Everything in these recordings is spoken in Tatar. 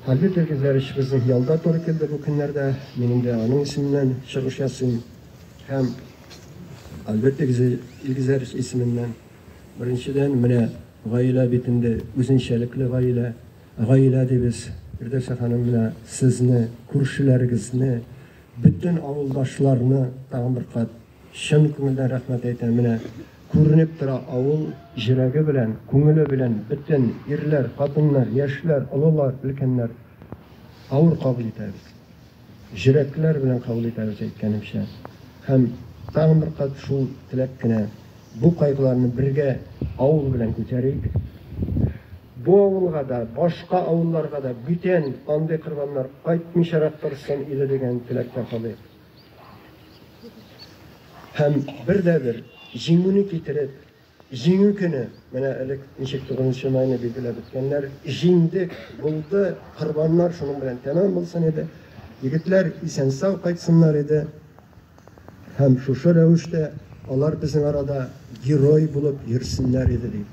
Хәлле телгезләр өчебезнең ялда туры килде бу көннәрдә. Минем дә аның исеменнән чыгыш ясыйм һәм Хәлле телгезләр исеменнән. Беренчедән, менә гаилә бит инде, үзенчәлекле гаилә. Гаилә дибез. Фирдәүсә ханым, менә сезне, күршеләрегезне, бөтен авылдашларны тагын бер кат. Чын күңелдән рәхмәт әйтәм, менә күренеп тора авыл җөрәге белән, күңеле белән бөтен ирләр, хатыннар, яшьләр, олылар, өлкәннәр авыр кабул итәбез. Җөрәкләр белән кабул итәбез әйткәнемчә. Һәм тагын бер кат шул теләк кенә бу кайгыларны бергә авыл белән күтәрик. Бу авылга да, башка авылларга да бүтән андый кырбаннар кайтмыйчарак торсын иде дигән теләктә калыйк. Һәм бер дә бер җиңүне китереп, җиңү көне, менә элек ничек 9 майны билгеләп үткәннәр, җиңдек, булды, корбаннар шуның белән тәмам булсын иде, егетләр исән-сау кайтсыннар иде. Һәм шушы рәвештә алар безнең арада герой булып йөрсеннәр иде, ди.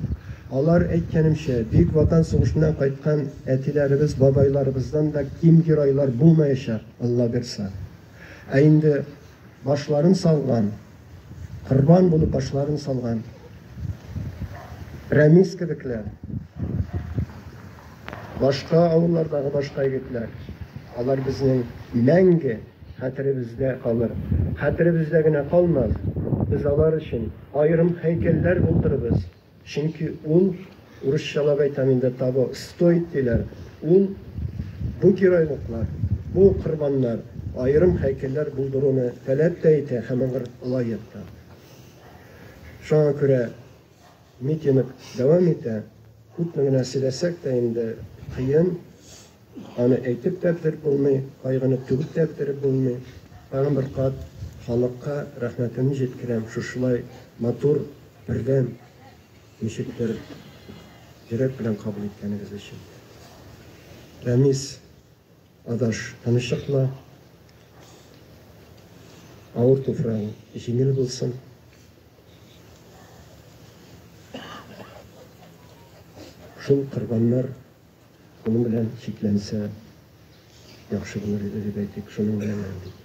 Алар, әйткәнемчә, Бөек Ватан сугышыннан кайткан әтиләребез, бабайларыбыздан да ким геройлар булмаячак. Аллабирса. Ә инде башларын салган, корбан булып башларын салган Рәмис кебекләр, башка авыллардагы башка егетләр, алар безнең мәңге хәтеребездә калыр. Хәтеребездә генә калмас, без алар өчен аерым һәйкәлләр булдырырбыз. Чөнки ул, урысча логай там инде того стоит диләр, ул, бу геройлыклар, бу корбаннар аерым һәйкәлләр булдыруны таләп тә итә һәм аңар лаек та. Шуңа күрә митинг дәвам итә. Күпме генә сөйләсәк тә инде, кыен. Аны әйтеп тә бетереп булмый, кайгыны түгеп тә бетереп булмый. Тагын бер кат халыкка рәхмәтемне җиткерәм, шушылай матур, бердәм, ничектер йөрәк белән кабул иткәнегез өчен. Рәмис, адаш, тынычлыкла, авыр туфрагың җиңел булсын. Шул корбаннар Шуның белән чикләнсә яхшы булыр иде, дип әйтик, шуның белән генә, дип.